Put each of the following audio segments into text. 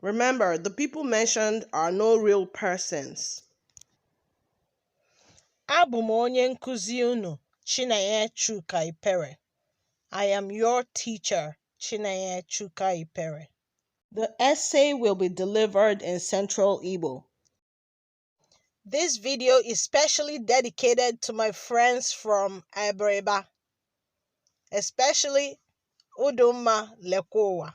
Remember, the people mentioned are no real persons. Abụ m onye nkụzi unu Chinenye Chuka Ipere. I am your teacher Chinenye Chuka Ipere. The essay will be delivered in Central Igbo. This video is specially dedicated to my friends from Abreba, especially Udumma Lekowa.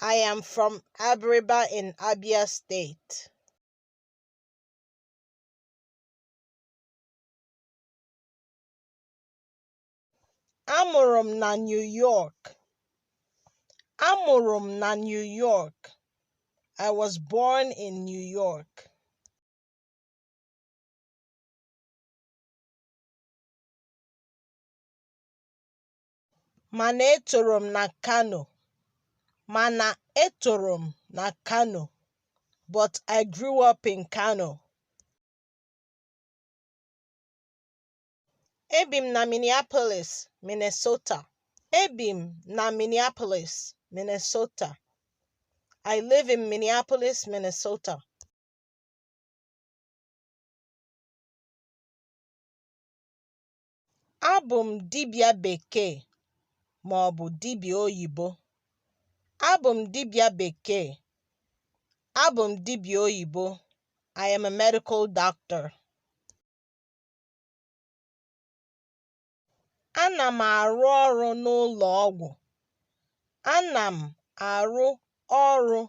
I am from Abiriba in Abia State. Amụrụ m na New York. Amụrụ m na New York. I was born in New York. mana etoro m na Kano mana etoro m na Kano but I grew up in Kano. Ebi m na Minneapolis, Minnesota. Ebi m na Minneapolis, Minnesota. I live in Minneapolis, Minnesota. Abụ m dibịa bekee ma ọ bụ dibịa oyibo. Abụ m dibịa bekee. Abụ m dibịa oyibo. I am a medical doctor. Ana m arụ ọrụ n'ụlọ ọgwụ. Ana m arụ ọrụ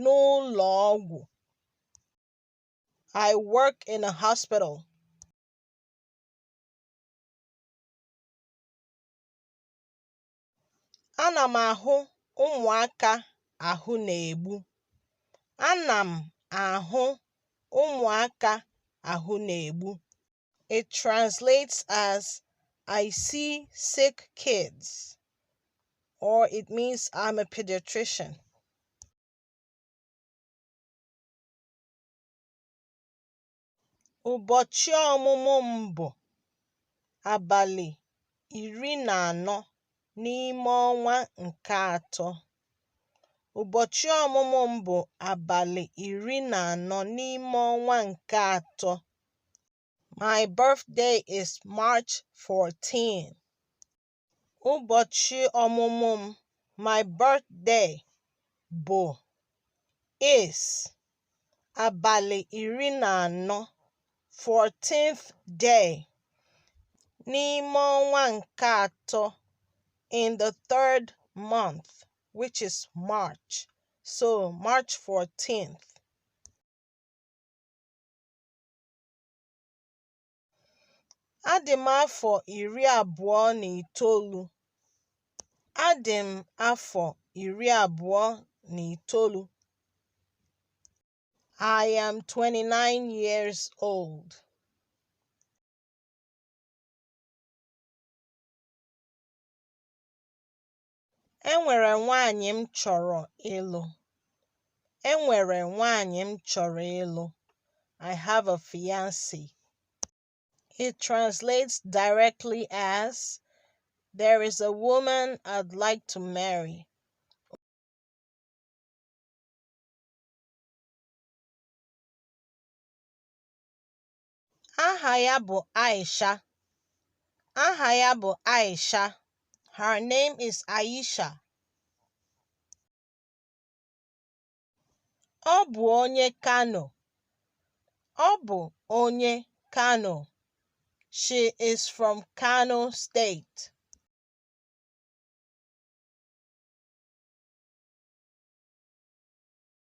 n'ụlọ ọgwụ. I work in a hospital. Ana m ahụ ụmụaka ahụ na-egbu. Ana m ahụ ụmụaka ahụ na-egbu. It translates as I see sick kids or it means I'm a pediatrician. Ụbọchị ọmụmụ m bụ abalị iri na anọ n'ime ọnwa nke atọ. Ụbọchị ọmụmụ m bụ abalị iri na anọ n'ime ọnwa nke atọ. My birthday is March 14. Ụbọchị ọmụmụ m, my birthday, bụ is abalị iri na anọ, 14th day, n'ime ọnwa nke atọ, in the third month, which is March. So, March 14th. Adị m afọ iri abụọ na itoolu. Adị m afọ iri abụọ na itoolu. I am 29 years old. Enwere nwaanyị m chọrọ ịlụ. Enwere nwaanyị m chọrọ ịlụ. I have a fiancée. It translates directly as There is a woman I'd like to marry. Aha ya bụ Aisha. Aha ya bụ Aisha. Her name is Aisha. Ọ bụ onye Kano. Ọ bụ onye Kano. She is from Kano State.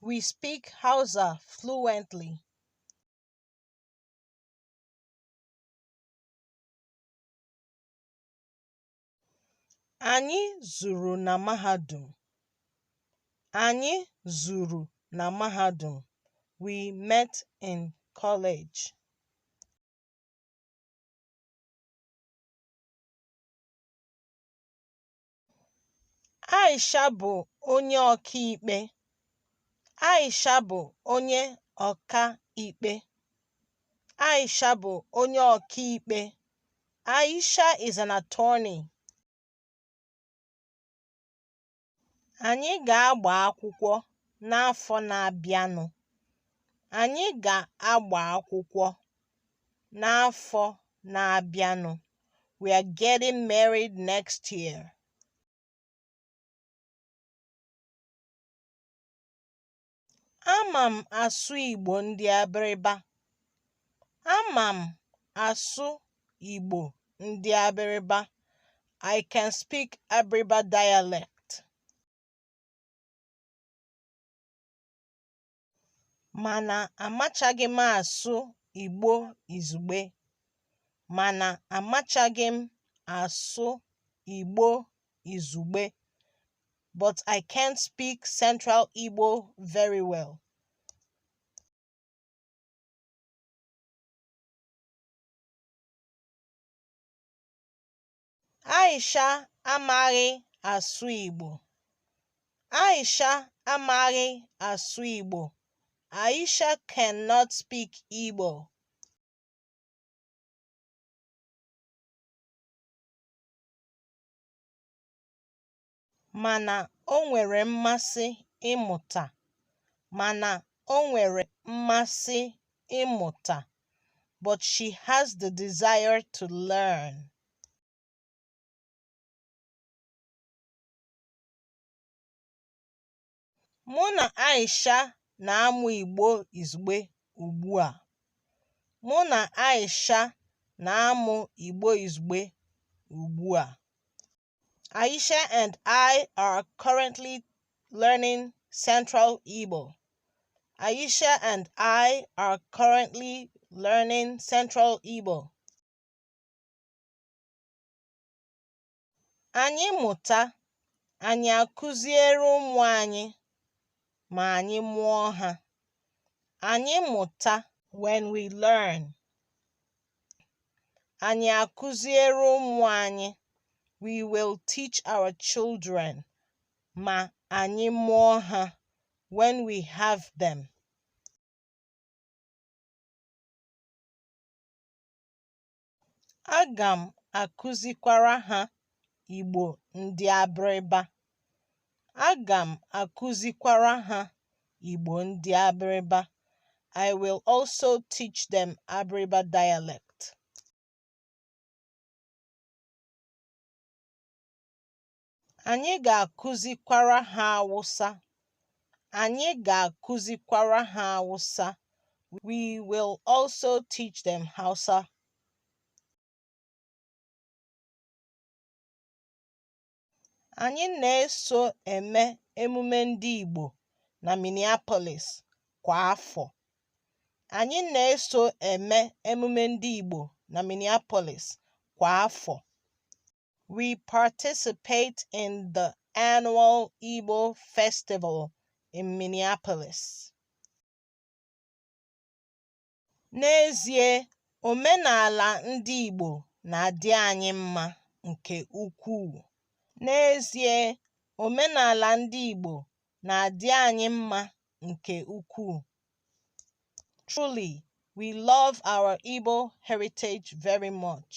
We speak Hausa fluently. Anyị zuru na mahadum. Anyị zuru na mahadum. We met in college. Aisha bụ onye ọkaikpe. Aisha bụ onye ọkaikpe. Aisha bụ onye ọkaikpe. Aisha is an attorney. Anyị ga-agba akwụkwọ n'afọ na-abịanụ. Anyị ga-agba akwụkwọ n'afọ na-abịanụ. We are getting married next year. Ama m asụ Igbo ndị Abịrịba. Ama m asụ Igbo ndị Abịrịba. I can speak Abịrịba dialect. mana amachaghị m asụ Igbo izugbe mana amachaghị m asụ Igbo izugbe but I can't speak Central Igbo very well. Aisha amaghị asụ Igbo. Aisha amaghị asụ Igbo. Aisha cannot speak Igbo. mana o nwere mmasị ịmụta mana o nwere mmasị ịmụta but she has the desire to learn. Mụ na Aisha na-amụ Igbo izugbe ugbu a. Mụ na Aisha na-amụ Igbo izugbe ugbu a. Aisha and I are currently learning Central Igbo. Aisha and I are currently learning Central Igbo. Anyị mụta, anyị akụziere ụmụ anyị ma anyị mụọ ha. Anyị mụta when we learn. Anyị akụziere ụmụ anyị we will teach our children ma anyị mụọ ha when we have them. Aga m akụzikwara ha Igbo ndị Abịrịba. Aga m akụzikwara ha Igbo ndị Abịrịba. I will also teach them Abịrịba dialect. Anyị ga-akụzikwara ha Awụsa. Anyị ga-akụzikwara ha Awụsa. We will also teach them Hausa. Anyị na-eso eme emume ndị Igbo na Minneapolis kwa afọ. Anyị na-eso eme emume ndị Igbo na Minneapolis kwa afọ. We participate in the annual Igbo festival in Minneapolis. N'ezie, omenala ndị Igbo na-adị anyị mma nke ukwuu. N'ezie, omenala ndị Igbo na-adị anyị mma nke ukwuu. Truly, we love our Igbo heritage very much.